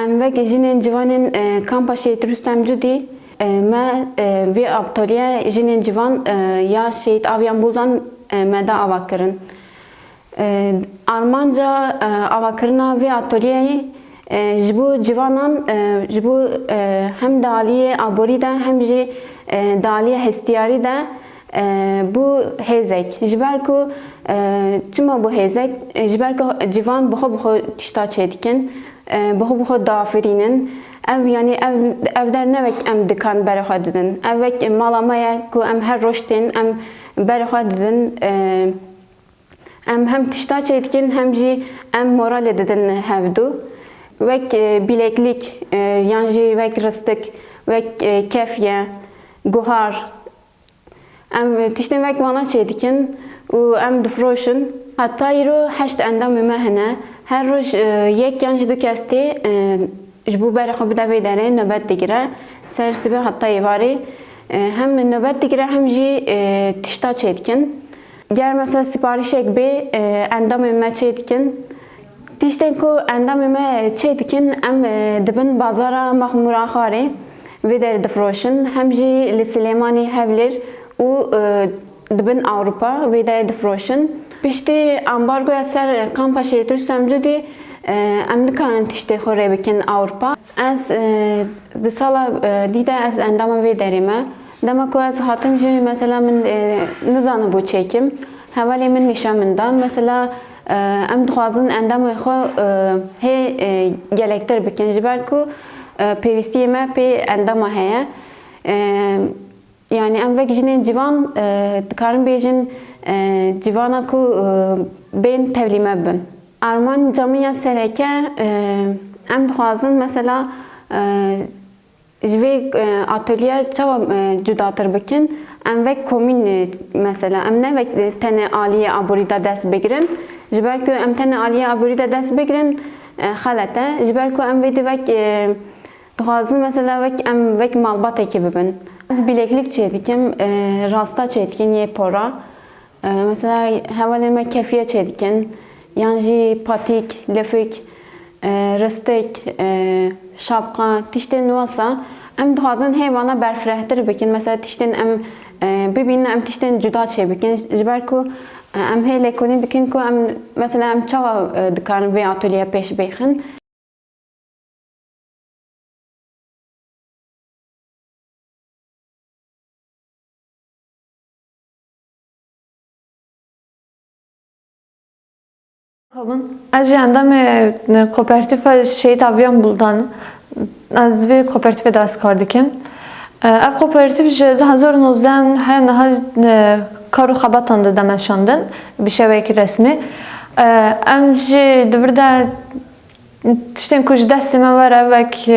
Em vekî jinên civanên e, kampa Şehîd Rustem Cudî e, me e, vê aptaliye jinên civan e, ya Şehîd Avian Buldan me da ava kirin. Armanca avakirina vê atölyeyê ji bo civanan ji bo hem di aliyê aborî de hem jî di aliyê hestiyarî de Bû hêzek. Ji ber ku çima bû hêzek? Ji ber ku civan bi xwe bi xwe tişta çêdikin, bi xwe bi xwe diafirînin. Ev yanî ev ev der ne wek em dikan berê xwe didin. Ev wek mala me ye ku em her roj tên em berê xwe didin. Em hem tişta çêdikin hem jî em moralê didin hevdu. Wek bîlêklîk yan jî wek ristik, wek kefye, guhar Em tiştên wek wana çê dikin û em difroşin. Heta îro heşt endamê me hene. Her roj yek yan jî du kes tê ji bo berê xwe bide vê derê nobet digire. Ser sibê heta êvarê hem nobet digire hem jî tişta çê dikin. Ger mesela siparîşek bê endamên me çê dikin. Tiştên ku endamên me çê dikin, em di bin bazara Maxmûraxarê vê derê difiroşin, hem jî li Silêmanî, Hewlêr û di bin Ewropa vê derê difiroşin. Piştî ambargoya ser Kampa Şehîd Rustem Cudî em nikarin tiştê xwe rê bikin Ewropa. Ez di sala dî de ez endama vê derê me. Dema ku ez hatim jî mesela min nizanibû çêkim. Hevalên min nîşan min dan. Mesela Em dixwazin endamên xwe hê gelektir bikin ji ber ku pêwîstiyê me pê endama heye. Yanî em wek jinên civan dikarin bêjin civana ku bên tevlî me bibin. Arman Camiya Sereke, Em dixwazin mesela Ji vê ateliye çawa cudatir bikin? Em wek komîn mesela em ne wek tenê aliyê aborî de dest bigirin. Ji ber ku em tenê aliyê aborî de dest bigirin xelet e. Ji ber ku em vê di wek dixwazin mesela wek em wek malbatekî bibin. Ez bileklik çêdikim, rasta çêdikin yê pora. Mesela hevalên me kefiye çêdikin yan jî patîk, lifik, ristik, şapka tiştên wisa em dixwazin hêvana berfirehtir bikin. Mesela tiştên em bibînin em tiştên cuda çêbikin ji ber ku em hê lêkolîn dikin ku em mesela em çawa dikarin vê atolyeya pêş bêxin. Ez jî endamê kopertîfa Şehîd Aviyan Buldan im. Ez di vê kopertîfê de ez kar dikim. Ev kopertîf ji du hezar û nozdeh heye niha kar û xebatan dide meşandin bi şeweyekî resmî. Em jî di vir de Tiştên ku ji destê me were wek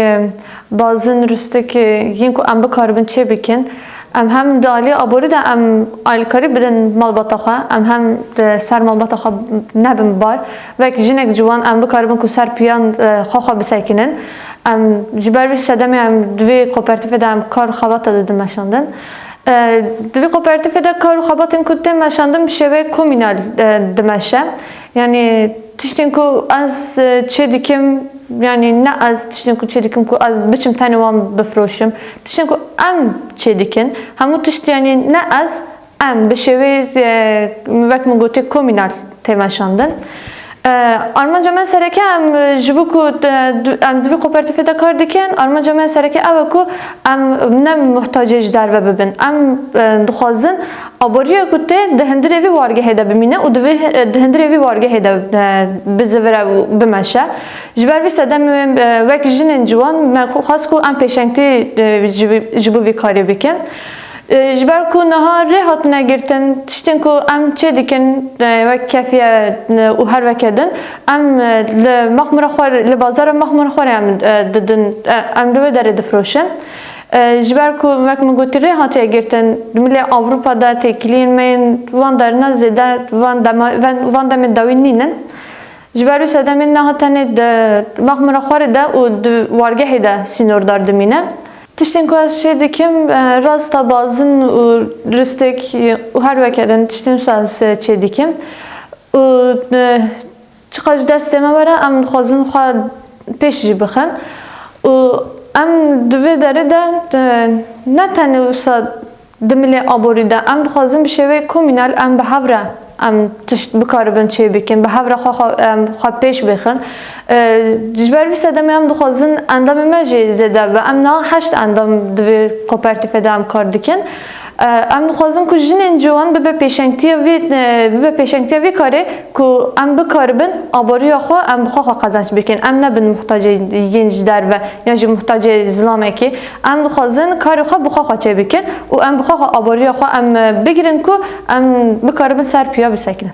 bazin, rûstik yên ku em bikaribin çê bikin. Em hem di aliyê aborî de em alîkarî bidin malbata xwe, em hem di ser malbata xwe nebin bar. Wek jinek ciwan em bikaribin ku ser piyan xwe xwe bisekinin. Em ji ber vî sedemê em di vê kopertîfê de em kar û xebata didin meşandin. Di vî kopertîfê de kar û xebatên ku tên meşandin bi şêweyê komînal dimeşe. Yanî tiştên ku ez çê dikim yanî ne ez tiştên ku çê dikim ku ez biçim tenê wan bifiroşim. Tiştên ku em çê dikin hemû tişt yanî ne ez em bi şêwê wek min gotê komînal tê meşandin. Armanca me sereke em ji bo ku em di vî kopertîfê de kar dikin armanca me sereke ew e ku em ne muhtacê ji derve bibin. Em dixwazin Aboriya ku tê di hindirê vî wargehê de bimîne û divê di hindirê vî wargehê de bizivire û bimeşe. Ji ber vî sedemê wê wek jinên ciwan me xwest ku em pêşengtî ji bo vî karê bikin. Ji ber ku niha rê hatine girtin tiştên ku em çê dikin wek kefiye û her weke din em li Mexmûra xwe li bazara Mexmûra xwe rê em didin em li wê derê difroşin. Ji ber ku wek min gotî rê hatiye girtin di milê Ewropa de têkiliyên me yên van derine zêde van dema van van demê dawî nîn in. Ji ber wî sedemên me ha tenê di mexmira xwe rê de û di wargehê de sînordar dimîne. Tiştên ku ez çê dikim rasta bazin û ristêk û her weke din tiştên wisa ez çê dikim û Çiqas ji destê me were em dixwazin xwe pêş jî bixin û em di vê derê de ne tenê wisa di milê aborî de em dixwazin bi şêweyê komînal em bi hev re em tişt bikaribin çêbikin, bi hev re xwe em xwe pêş bêxin. Ji ber vî sedemê em dixwazin endamê me jî zêde bibe. Em niha heşt endam di vê kopertîfê de em kar dikin. Em dixwazin ku jinên ciwan bibe pêşengtiya vê bibe pêşengtiya vê karê ku em bikaribin aboriya xwe em bi xwe xwe qezenç bikin. Em nebin muhtacê yên ji derve yan jî muhtacê zilamekî. Em dixwazin karê xwe bi xwe xwe çêbikin û em bi xwe xwe aboriya xwe em bigirin ku em bikaribin ser piya bisekinin.